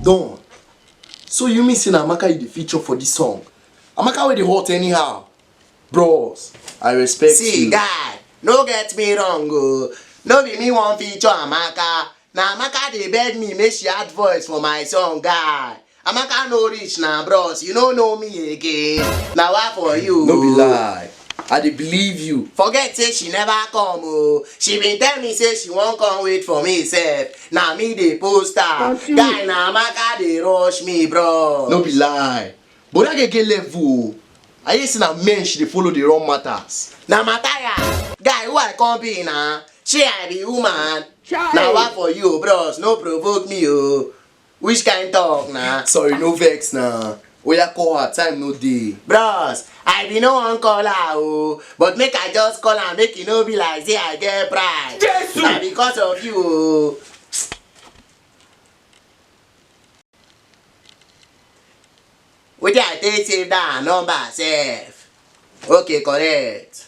Don, so you mean say na Amaka you dey feature for this song? Amaka wey dey hot anyhow. Bros, I respect See, you. guy, no get me wrong, oh. No be me wan feature Amaka. Na Amaka dey beg me make she add voice for my song, guy. Amaka no reach na bros, you no know me again. Na wa for you. No be lie. I dey believe you. Forget say she never come oh. She been tell me say she wan come wait for me sef. Na me dey post her. Guy na Amaka dey rush me bros. No be lie. But that girl get level o. I hear say na men she dey follow dey run matters. Na Mataya, guy who I come be na. Shey I be woman? Na wa for you bros, no provoke me oh. Which kind talk na? Sorry, no vex na. Oya call her, time no dey. Bros, I be no wan call her o, but make I just call am make e no be like say I get pride. Jesu! Na because of you o. Wetin I take save that number sef? Okay, correct.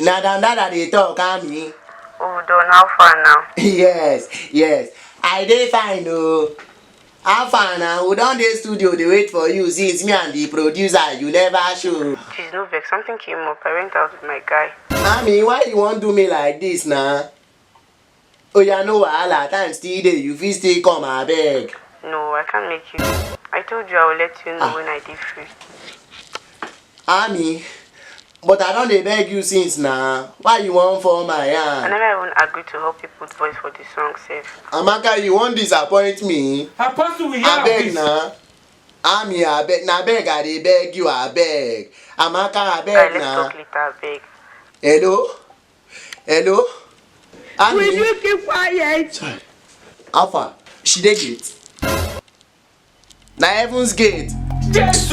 na dan dan i dey talk ami Oh, Don, how far now? yes yes i dey fine oo how far na we don dey studio dey wait for you since me and the producer you never show Please, no vex. Something came up. I went out with my guy. ami why you wan do me like this na Oya no wahala, time still dey, you fit still come abeg. No, I can't make you go. I told you I will let you know ah. when I dey free. Ami, but I don dey beg you since na. Why you wan fall my hand? I never even agree to help you put voice for the song sef. Amaka, you wan disappoint me? Apostle, we hear Abeg na. Ami, abeg, na beg I dey beg you, abeg. Amaka, abeg na. Let's talk later, abeg. Hello? hello Annie. will you keep quiet. Alpha, she dey gate na heaven's gate. Jesus.